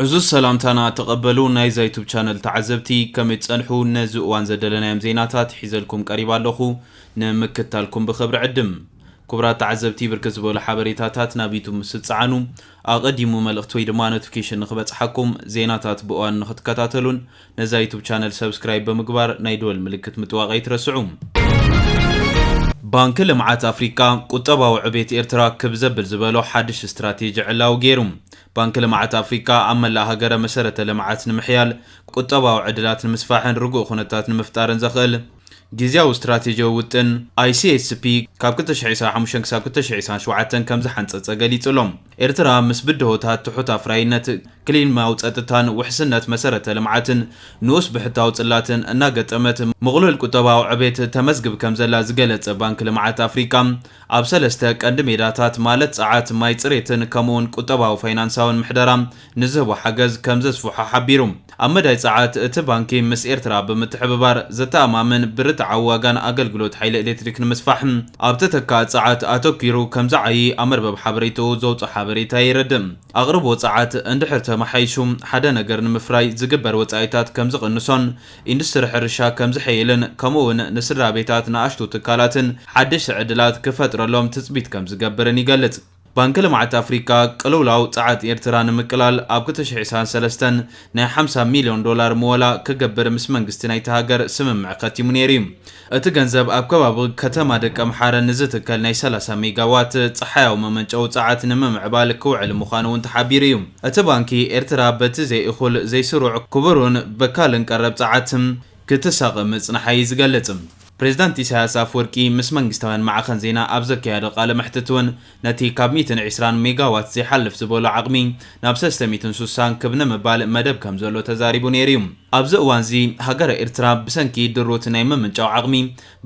ዕዙዝ ሰላምታና ተቐበሉ ናይዛ ዩቱብ ቻነል ተዓዘብቲ ከመይ ትጸንሑ ነዚ እዋን ዘደለናዮም ዜናታት ሒዘልኩም ቀሪባ ኣለኹ ንምክታልኩም ብኽብሪ ዕድም ክቡራት ተዓዘብቲ ብርክት ዝበሉ ሓበሬታታት ናብ ዩቱብ ምስ ትጸዓኑ ኣቐዲሙ መልእኽቲ ወይ ድማ ኖቲፊኬሽን ንኽበጽሓኩም ዜናታት ብእዋኑ ንኽትከታተሉን ነዛ ዩቱብ ቻነል ሰብስክራይብ ብምግባር ናይ ደወል ምልክት ምጥዋቕ ኣይትረስዑ። ባንኪ ልምዓት ኣፍሪካ ቁጠባዊ ዕቤት ኤርትራ ክብ ዘብል ዝበሎ ሓድሽ ስትራቴጂ ዕላዊ ገይሩ። ባንኪ ልምዓት ኣፍሪካ ኣብ መላእ ሃገረ መሰረተ ልምዓት ንምሕያል፣ ቁጠባዊ ዕድላት ንምስፋሕን ርጉእ ኩነታት ንምፍጣርን ዘኽእል ግዝያዊ ስትራቴጂዊ ውጥን፣ ICSP፣ ካብ ክልተ ሽሕ ዒስራን ሓሙሽተን ክሳብ ክልተ ሽሕ ዒስራን ሸውዓተን ከምዝሓንፀፀ ገሊፁ'ሎ። ኤርትራ ምስ ብድሆታት ትሑት ኣፍራይነት፣ ክሊማዊ ጸጥታን ውሕስነት መሰረተ ልምዓትን፣ ንኡስ ብሕታዊ ጽላትን እናገጠመት ምቕሉል ቁጠባዊ ዕቤት ተመዝግብ ከምዘላ ዝገለጸ ባንኪ ልምዓት ኣፍሪቃ፣ ኣብ ሰለስተ ቀንዲ ሜዳታት ማለት ጸዓት፣ ማይ ጽሬትን ከምኡ'ውን ቁጠባዊ ፋይናንሳዊን ምሕደራ ንዝህቦ ሓገዝ ከምዘስፍሖ ሓቢሩ። ኣብ መዳይ ጸዓት፣ እቲ ባንኪ ምስ ኤርትራ ብምትሕብባር ዘተኣማምን ብርትዓዊ ዋጋን ኣገልግሎት ሓይሊ ኤሌክትሪክ ንምስፋሕ ኣብ ተተካኢ ጸዓት ኣተኲሩ ከምዝዓዪ ኣብ መርበብ ሓበሬታኡ ዘውጽኦ ሓበሬታ የረድእ። ኣቕርቦ ጸዓት እንድሕር ተመሓይሹ ሓደ ነገር ንምፍራይ ዝግበር ወጻኢታት ከምዝቕንሶን ኢንዱስትሪ ሕርሻ ከምዝሕይልን ከምኡ'ውን ንስድራቤታት ንኣሽቱ ትካላትን ሓደሽቲ ዕድላት ክፈጥረሎም ትጽቢት ከምዝገብርን ይገልጽ። ባንኪ ልምዓት ኣፍሪካ ቅልውላው ፀዓት ኤርትራ ንምቅላል ኣብ ክልተ ሽሕ ዒስራን ሰለስተን ናይ ሓምሳ ሚልዮን ዶላር ምወላ ክገብር ምስ መንግስቲ ናይታ ሃገር ስምምዕ ከቲሙ ነይሩ እዩ። እቲ ገንዘብ ኣብ ከባቢ ከተማ ደቀምሓረ ንዝትከል ናይ ሰላሳ ሜጋ ዋት ፀሓያዊ መመንጨዊ ፀዓት ንምምዕባል ክውዕል ምዃኑ እውን ተሓቢሩ እዩ። እቲ ባንኪ ኤርትራ በቲ ዘይእኹል፣ ዘይስሩዕ፣ ክቡርን በካልን ቀረብ ፀዓት ክትሳቐ ምፅንሓ እዩ ዝገልፅ። ፕሬዝዳንት ኢሳያስ ኣፍወርቂ ምስ መንግስታውያን ማዕኸን ዜና ኣብ ዘካየዶ ቃለ መሕትት እውን ነቲ ካብ ሚእትን ዒስራን ሜጋዋት ዘይሓልፍ ዝበሎ ዓቕሚ ናብ ሰለስተ ሚእትን ሱሳን ክብ ንምባል መደብ ከምዘሎ ተዛሪቡ ነይሩ እዩ። ኣብዚ እዋንዚ ሃገረ ኤርትራ ብሰንኪ ድሩት ናይ ምምንጫው ዓቕሚ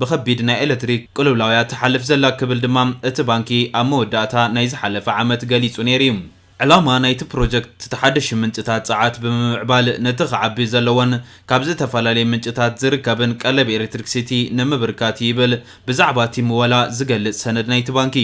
ብኸቢድ ናይ ኤለትሪክ ቅልውላውያ ትሓልፍ ዘላ ክብል ድማ እቲ ባንኪ ኣብ መወዳእታ ናይ ዝሓለፈ ዓመት ገሊጹ ነይሩ እዩ። ዕላማ ናይቲ ፕሮጀክት ዝተሓደሹ ምንጭታት ጸዓት ብምምዕባል ነቲ ክዓቢ ዘለዎን ካብ ዝተፈላለየ ምንጭታት ዝርከብን ቀለብ ኤሌክትሪክ ሲቲ ንምብርካት እዩ ይብል ብዛዕባ እቲ ምወላ ዝገልጽ ሰነድ ናይቲ ባንኪ።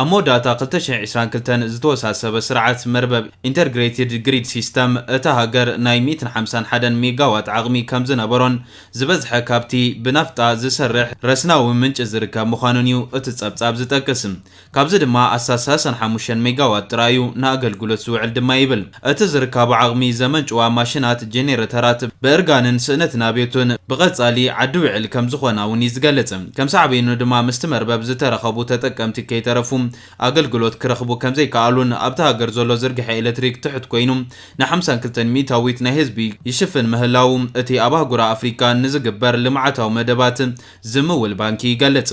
ኣብ መወዳእታ ክልተ ሽሕ ዕስራን ክልተን ዝተወሳሰበ ስርዓት መርበብ፣ Intergrated Grid System፣ እታ ሃገር ናይ ሚእትን ሓምሳን ሓደን ሜጋዋት ዓቕሚ ከምዝነበሮን ዝበዝሐ ካብቲ ብናፍጣ ዝሰርሕ ረስናዊ ምንጪ ዝርከብ ምዃኑን እዩ እቲ ጸብጻብ ዝጠቅስ። ካብዚ ድማ ኣሳሳ ሰን ሓሙሽተን ሜጋዋት ጥራይ እዩ ንኣገልግሎት ዝውዕል ድማ ይብል። እቲ ዝርካቡ ዓቕሚ ዘመንጭዋ ማሽናት፣ ጀኔረተራት፣ ብእርጋንን ስእነት ናብዮትን ብቐጻሊ ዓዲ ውዕል ከም ዝኾና እውን እዩ ዝገልጽ። ከም ሳዕቤኑ ድማ ምስቲ መርበብ ዝተረኸቡ ተጠቀምቲ ከይተረፉ ኣገልግሎት ክረኽቡ ከም ዘይከኣሉን ኣብታ ሃገር ዘሎ ዝርግሐ ኤለትሪክ ትሑት ኮይኑ ን ሓምሳን ክልተን ሚእታዊት ናይ ህዝቢ ይሽፍን ምህላዉ እቲ ኣብ ኣህጉራ ኣፍሪካ ንዝግበር ልምዓታዊ መደባት ዝምውል ባንኪ ይገልጽ።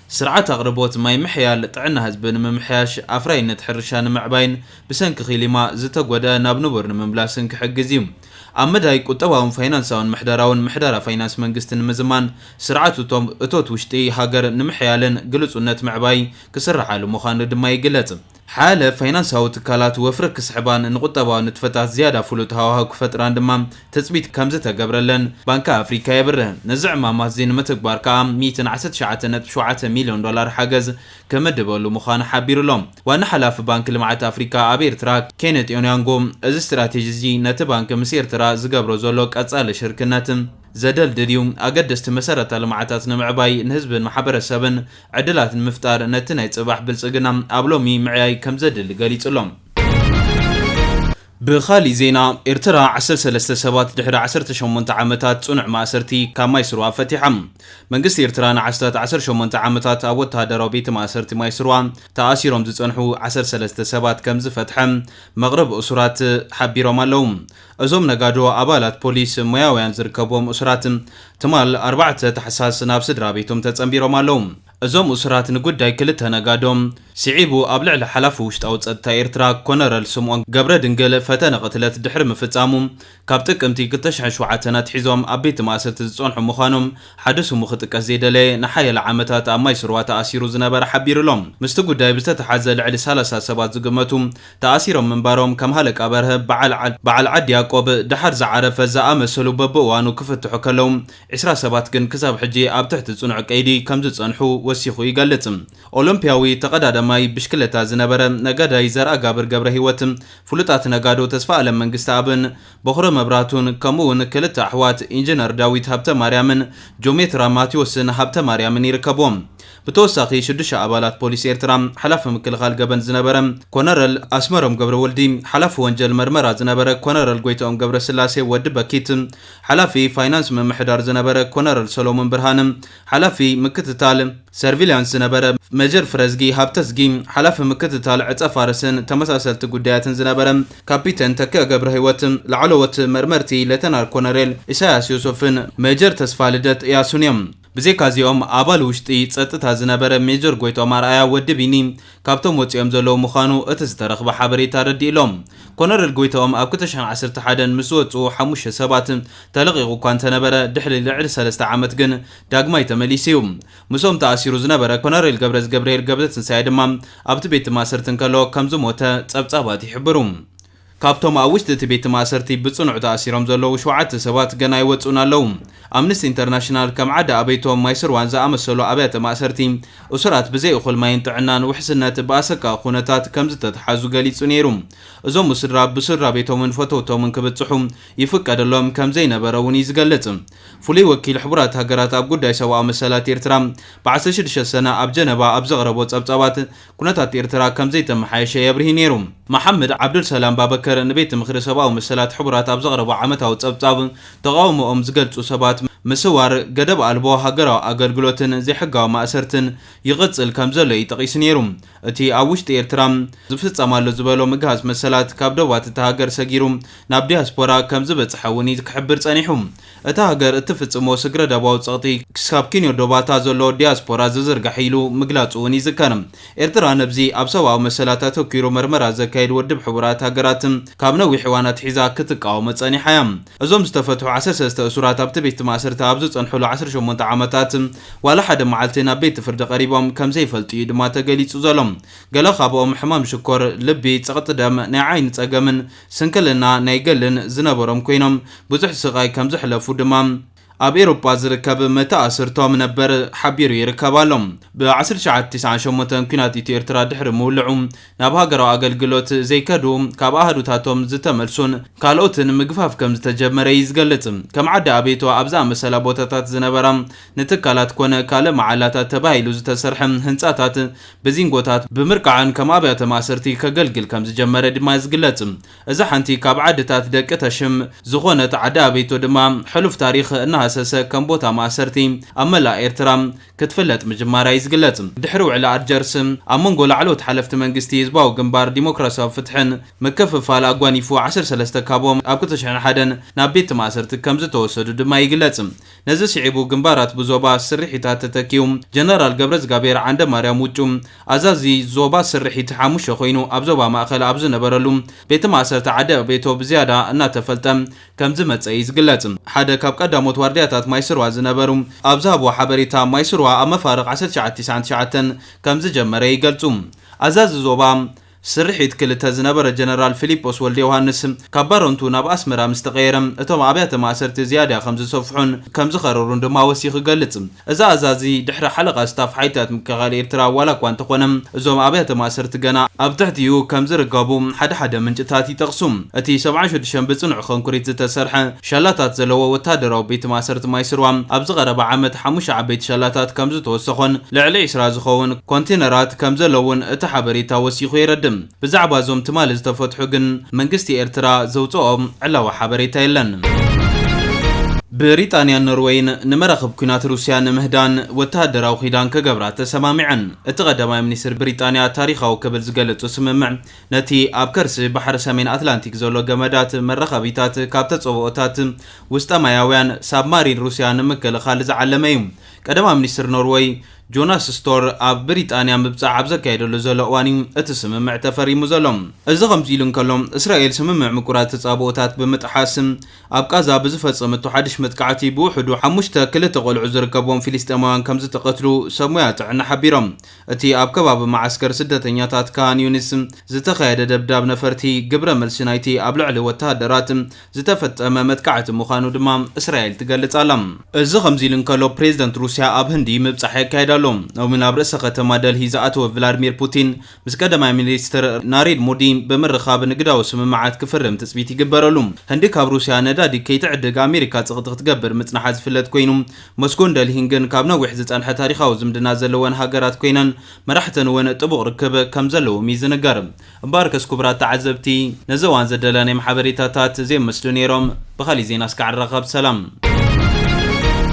ስርዓት ኣቕርቦት ማይ ምሕያል፣ ጥዕና ህዝቢ ንምምሕያሽ፣ ኣፍራይነት ሕርሻ ንምዕባይን ብሰንኪ ኺሊማ ዝተጎድኣ ናብ ንቡር ንምምላስን ክሕግዝ እዩ። ኣብ መዳይ ቁጠባውን ፋይናንሳውን ምሕደራውን ምሕደራ ፋይናንስ መንግስቲ ንምዝማን፣ ስርዓት እቶት ውሽጢ ሃገር ንምሕያልን ግልጹነት ምዕባይ ክስርሓሉ ምዃኑ ድማ ይግለጽ። ሓያለ ፋይናንሳዊ ትካላት ወፍሪ ክስሕባን ንቁጠባዊ ንጥፈታት ዝያዳ ፍሉጥ ሃዋህው ክፈጥራን ድማ ትጽቢት ከምዝተገብረለን ባንኪ ኣፍሪካ የብርህ። ነዚ ዕማማት'ዚ ንምትግባር ከኣ ሚእትን ዓሰርተ ትሽዓተ ነጥቢ ሸውዓተ ሚልዮን ዶላር ሓገዝ ክምድበሉ ምዃኑ ሓቢሩ'ሎ። ዋና ሓላፊ ባንኪ ልምዓት ኣፍሪካ ኣብ ኤርትራ ኬነት ኦንያንጎ፣ እዚ ስትራቴጂ'ዚ ነቲ ባንኪ ምስ ኤርትራ ዝገብሮ ዘሎ ቀጻሊ ሽርክነት ዘደልድል'ዩ፣ ኣገደስቲ መሰረተ ልምዓታት ንምዕባይ፣ ንህዝብን ማሕበረሰብን ዕድላት ንምፍጣር ነቲ ናይ ጽባሕ ብልጽግና ኣብ ሎሚ ምዕያይ ከምዘድሊ ገሊጹ ኣሎ። ብኻሊእ ዜና ኤርትራ ዓሰርተ ሰለስተ ሰባት ድሕሪ ዓሰርተ ሸሞንተ ዓመታት ጽኑዕ ማእሰርቲ ካብ ማይስርዋ ፈቲሓ። መንግስቲ ኤርትራ ንዓስታት ዓሰርተ ሸሞንተ ዓመታት ኣብ ወተሃደራዊ ቤተ ማእሰርቲ ማይስርዋ ተኣሲሮም ዝጸንሑ ዓሰርተ ሰለስተ ሰባት ከምዝፈትሐ መቕርብ እሱራት ሓቢሮም ኣለዉ። እዞም ነጋዶ ኣባላት ፖሊስ ሞያውያን ዝርከብዎም እሱራት ትማል ኣርባዕተ ታሕሳስ ናብ ስድራቤቶም ተጸንቢሮም ኣለዉ። እዞም እሱራት ንጉዳይ ክልተ ነጋዶ ስዒቡ ኣብ ልዕሊ ሓላፊ ውሽጣዊ ጸጥታ ኤርትራ ኮነረል ስምኦን ገብረድንግል ፈተነ ቅትለት ድሕሪ ምፍጻሙ ካብ ጥቅምቲ ክልተ ሽሕን ሸውዓተን ኣትሒዞም ኣብ ቤት ማእሰርቲ ዝጸንሑ ምዃኖም ሓደ ስሙ ክጥቀስ ዘይደለየ ንሓያለ ዓመታት ኣብ ማይስርዋ ተኣሲሩ ዝነበረ ሓቢሩ'ሎ። ምስቲ ጉዳይ ብዝተተሓዘ ልዕሊ ሰላሳ ሰባት ዝግመቱ ተኣሲሮም ምንባሮም ከም ሃለቃ በርሀ፣ በዓል በዓል ዓዲ ያቆብ፣ ደሓር ዝዓረፈ ዝኣመሰሉ በብእዋኑ ክፍትሑ ከለው፣ ዕስራ ሰባት ግን ክሳብ ሕጂ ኣብ ትሕቲ ጽኑዕ ቀይዲ ከም ዝጸንሑ ወሲኹ ይገልጽ። ኦሎምፒያዊ ተቐዳዳማይ ብሽክለታ ዝነበረ ነጋዳይ ዘርኣጋብር ገብረሂወት፣ ፍሉጣት ነጋዶ ተስፋኣለም መንግስተኣብን፣ ቦኽረ መብራቱን ከምኡ'ውን ክልተ ኣሕዋት ኢንጅነር ዳዊት ሃብተማርያምን ጆሜትራ ማትዮስን ሃብተማርያምን ይርከብዎም። ብተወሳኺ ሽዱሽተ ኣባላት ፖሊስ ኤርትራ፣ ሓላፊ ምክልኻል ገበን ዝነበረ ኮነረል ኣስመሮም ገብረወልዲ፣ ሓላፊ ወንጀል መርመራ ዝነበረ ኮነረል ጎይትኦም ገብረስላሴ፣ ወዲ በኪት፣ ሓላፊ ፋይናንስ ምምሕዳር ዝነበረ ኮነረል ሰሎሙን ብርሃነ፣ ሓላፊ ምክትታል ሰርቪልያንስ ዝነበረ ሜጀር ፍረዝጊ ሃብተዝጊ፣ ሓላፊ ምክትታል ዕጸ-ፋርስን ተመሳሰልቲ ጉዳያትን ዝነበረ ካፒተን ተኪኣ ገብረህይወት፣ ላዕለዎት መርመርቲ ሌተናል ኮነሬል ኢሳይያስ ዮሶፍን ሜጀር ተስፋልደት እያሱን እዮም። ብዘይካ'ዚኦም፣ ኣባል ውሽጢ ጸጥታ ዝነበረ ሜጀር ጎይትኦም ኣርኣያ፣ ወዲ ቢኒ፣ ካብቶም ወጺኦም ዘለዉ ምዃኑ እቲ ዝተረኽበ ሓበሬታ ኣረዲኡ ኣሎ። ኮነረል ጎይትኦም ኣብ ክልተ ሽሕን ዓሰርተ ሓደን ምስ ዝወጽኡ ሓሙሽተ ሰባት ተለቒቑ እኳ እንተነበረ ድሕሪ ልዕሊ ሰለስተ ዓመት ግን ዳግማይ ተመሊሱ እዩ። ምስኦም ተኣሲሩ ዝነበረ ኮነሬል ገብረዝገብርሄል ገብረትንሳኤ ድማ ኣብቲ ቤት ማእሰርቲ እንከሎ ከም ዝሞተ ጸብጻባት ይሕብሩ። ካብቶም ኣብ ውሽጢ እቲ ቤት ማእሰርቲ ብጽኑዕ ተኣሲሮም ዘለዉ ሸውዓተ ሰባት ገና ኣይወጽኡን ኣለዉ። ኣምነስቲ ኢንተርናሽናል ከም ዓዲ ኣበይቶም፣ ማይስርዋን ዝኣመሰሉ ኣብያተ ማእሰርቲ፣ እሱራት ብዘይ እኹል ማይን ጥዕናን ውሕስነት ብኣሰቃቒ ኩነታት ከም ዝተትሓዙ ገሊጹ ነይሩ። እዞም ውስድራ ብስድራቤቶምን ፈተውቶምን ክብጽሑ ይፍቀደሎም ከም ዘይነበረ'ውን እዩ ዝገልጽ። ፍሉይ ወኪል ሕቡራት ሃገራት ኣብ ጉዳይ ሰብኣዊ መሰላት ኤርትራ ብ ዓሰርተ ሽዱሽተ ሰነ ኣብ ጀነቫ ኣብ ዘቕረቦ ጸብጻባት፣ ኩነታት ኤርትራ ከም ዘይተመሓየሸ የብርሂ ነይሩ። መሓመድ ዓብዱልሰላም ባበከር ንቤት ምኽሪ ሰብኣዊ መሰላት ሕቡራት ኣብ ዘቕረቦ ዓመታዊ ጸብጻብ፣ ተቓውሞኦም ዝገልጹ ሰባት ምስዋር፣ ገደብ ኣልቦ ሃገራዊ ኣገልግሎትን ዘይሕጋዊ ማእሰርትን ይቕጽል ከም ዘሎ'ዩ ጠቒሱ ነይሩ። እቲ ኣብ ውሽጢ ኤርትራ ዝፍጸም ኣሎ ዝበሎ ምግሃስ መሰላት፣ ካብ ደባት እታ ሃገር ሰጊሩ ናብ ዲያስፖራ ከም ዝበጽሐ'ውን'ዩ ክሕብር ጸኒሑ። እታ ሃገር እትፍጽሞ ስግረ-ደባዊ ጸቕጢ ክሳብ ኪንዮ ዶባታ ዘሎ ዲያስፖራ ዝዝርጋሕ ኢሉ ምግላጹ'ውን ይዝከር። ኤርትራ ነብዚ ኣብ ሰብኣዊ መሰላት ኣተኲሩ መርመራ ዘካይድ ወድብ ሕቡራት ሃገራት ካብ ነዊሕ እዋን ኣትሒዛ ክትቃወሞ ጸኒሓ'ያ። እዞም ዝተፈትሑ ዓሰርተ ሰለስተ እሱራት ኣብቲ ቤት ማእስርቲ ኣብ ዝጸንሑሉ ዓሰርተ ሸሞንተ ዓመታት ዋላ ሓደ መዓልቲ ናብ ቤት ፍርዲ ቀሪቦም ከም ዘይፈልጡ'ዩ ድማ ተገሊጹ ዘሎ። ገለ ካብኦም ሕማም ሽኮር፣ ልቢ፣ ጸቕጢ ደም፣ ናይ ዓይኒ ጸገምን፣ ስንክልና ናይ ገልን ዝነበሮም ኮይኖም ብዙሕ ስቓይ ከም ዘሕለፉ ድማ ኣብ ኤሮጳ ዝርከብ መተኣስርቶም ነበር ሓቢሩ ይርከብ ኣሎ። ብ ዓሰርተ ትሽዓተ ቲስዓን ሸሞንተን ኩናት ኢትዮ ኤርትራ ድሕሪ ምውልዑ ናብ ሃገራዊ ኣገልግሎት ዘይከዱ፣ ካብ ኣሃዱታቶም ዝተመልሱን ካልኦትን ምግፋፍ ከም ዝተጀመረ እዩ ዝገልጽ። ከም ዓዲ ኣቤቶ ኣብ ዝኣመሰላ ቦታታት ዝነበራ ንትካላት ኮነ ካልእ መዓላታት ተባሂሉ ዝተሰርሐ ህንጻታት ብዚንጎታት ብምርቃዕን ከም ኣብያተ ማእሰርቲ ከገልግል ከም ዝጀመረ ድማ ዝግለጽ። እዛ ሓንቲ ካብ ዓድታት ደቂ ተሽም ዝኾነት ዓዲ ኣበይቶ ድማ ሕሉፍ ታሪኽ እናሃሰሰ ከም ቦታ ማእሰርቲ ኣብ መላእ ኤርትራ ክትፍለጥ ምጅማራ እዩ ዝግለጽ። ድሕሪ ውዕሊ ኣልጀርስ ኣብ መንጎ ላዕለዎት ሓለፍቲ መንግስቲ ህዝባዊ ግንባር ዲሞክራስያዊ ፍትሕን ምክፍፋል ኣጓኒፉ ዓሰርተ ሰለስተ ካብኦም ኣብ ክልተ ሽሕን ሓደን ናብ ቤት ማእሰርቲ ከም ዝተወሰዱ ድማ ይግለጽ። ነዚ ስዒቡ ግንባራት ብዞባ ስርሒታት ተተኪኡ። ጀነራል ገብረዝጋብሄር ዓንደማርያም ውጩ፣ ኣዛዚ ዞባ ስርሒት ሓሙሽተ ኮይኑ ኣብ ዞባ ማእከል ኣብ ዝነበረሉ፣ ቤት ማእሰርቲ ዓዲዕቤቶ ብዝያዳ እናተፈልጠ ከምዝመጸ እዩ ዝግለጽ። ሓደ ካብ ቀዳሞት ዋርድያታት ማይስርዋ ዝነበሩ ኣብ ዝሃብዎ ሓበሬታ፣ ማይስርዋ ኣብ መፋርቕ ዓሰርተ ትሽዓተ ቲስዓን ትሽዓተን ከምዝጀመረ ይገልጹ። ኣዛዚ ዞባ። ስርሒት ክልተ ዝነበረ ጀነራል ፊሊጶስ ወልደዮሃንስ፣ ካብ ባረንቱ ናብ ኣስመራ ምስ ተቐየረ፣ እቶም ኣብያተ ማእሰርቲ ዝያዳ ከም ዝሰፍሑን ከም ዝኸረሩን ድማ ወሲኹ ይገልጽ። እዚ ኣዛዚ ድሕሪ ሓለቓ ስታፍ ሓይልታት ምክልኻል ኤርትራ ዋላ እኳ እንተኾነ፣ እዞም ኣብያተ ማእሰርቲ ገና። ኣብ ትሕቲኡ ከም ዝርከቡ ሓደ ሓደ ምንጭታት ይጠቕሱ። እቲ ሰብዓን ሽዱሽተን ብጽኑዕ ኸንኩሪት ዝተሰርሐ። ሻላታት ዘለዎ ወተሃደራዊ ቤት ማእሰርቲ ማይስርዋ፣ ኣብዚ ቀረባ ዓመት ሓሙሽተ ዓበይቲ ሻላታት ከምዝተወሰኾን ልዕሊ ዕስራ ዝኸውን ኮንቴነራት ከምዘለዉን እቲ ሓበሬታ ወሲኹ የረድእ። ብዛዕባ እዞም ትማሊ ዝተፈትሑ ግን መንግስቲ ኤርትራ ዘውጽኦ ዕላዊ ሓበሬታ የለን። ብሪጣንያን ኖርወይን ንመራኽብ ኲናት ሩስያ ንምህዳን ወተሃደራዊ ኪዳን ክገብራ ተሰማሚዐን። እቲ ቀዳማይ ሚኒስትር ብሪጣንያ ታሪኻዊ ክብል ዝገለጾ ስምምዕ ነቲ ኣብ ከርሲ ባሕሪ ሰሜን ኣትላንቲክ ዘሎ ገመዳት መራኸቢታት ካብ ተጸብኦታት ውስጠ-ማያውያን ሳብማሪን ሩስያ ንምክልኻል ዝዓለመ እዩ። ቀዳማይ ሚኒስትር ኖርወይ ጆናስ ስቶር ኣብ ብሪጣንያ ምብጻሕ ኣብ ዘካየደሉ ዘሎ እዋን እዩ እቲ ስምምዕ ተፈሪሙ ዘሎ። እዚ ከምዚ ኢሉ እንከሎ፣ እስራኤል ስምምዕ ምቁራጽ ተጻብኦታት ብምጥሓስ ኣብ ቓዛ ብዝፈጸመቶ ሓድሽ መጥቃዕቲ ብውሕዱ ሓሙሽተ ክልተ ቆልዑ ዝርከብዎም ፊሊስጤማውያን ከምዝተቐትሉ ሰብ ሞያ ጥዕና ሓቢሮም። እቲ ኣብ ከባቢ መዓስከር ስደተኛታት ካን ዩኒስ ዝተኻየደ ደብዳብ ነፈርቲ፣ ግብረ መልሲ ናይቲ ኣብ ልዕሊ ወተሃደራት ዝተፈጸመ መጥቃዕቲ ምዃኑ ድማ እስራኤል ትገልጽ ኣላ። እዚ ከምዚ ኢሉ እንከሎ፣ ፕሬዝደንት ሩስያ ኣብ ህንዲ ምብጻሕ የካይድ ኣሎ። ሎሚ ናብ ርእሰ ከተማ ደልሂ ዝኣተወ ቭላድሚር ፑቲን፣ ምስ ቀዳማይ ሚኒስትር ናሬድ ሞዲ ብምርኻብ ንግዳዊ ስምምዓት ክፍርም ትጽቢት ይግበረሉ። ህንዲ ካብ ሩስያ ነዳዲ ከይትዕድግ ኣሜሪካ ጸቕጢ ክትገብር ምጽንሓ ዝፍለጥ ኮይኑ፣ ሞስኮን ደልሂን ግን ካብ ነዊሕ ዝጸንሐ ታሪኻዊ ዝምድና ዘለወን ሃገራት ኰይነን፣ መራሕተን እውን ጥቡቕ ርክብ ከም ዘለዎም እዩ ዝንገር። እምበኣርከስ ክቡራት ተዓዘብቲ፣ ነዚ እዋን ዘዳለናዮም ሓበሬታታት እዚኦም ይመስሉ ነይሮም። ብኻሊእ ዜና እስካዕ ንራኸብ። ሰላም!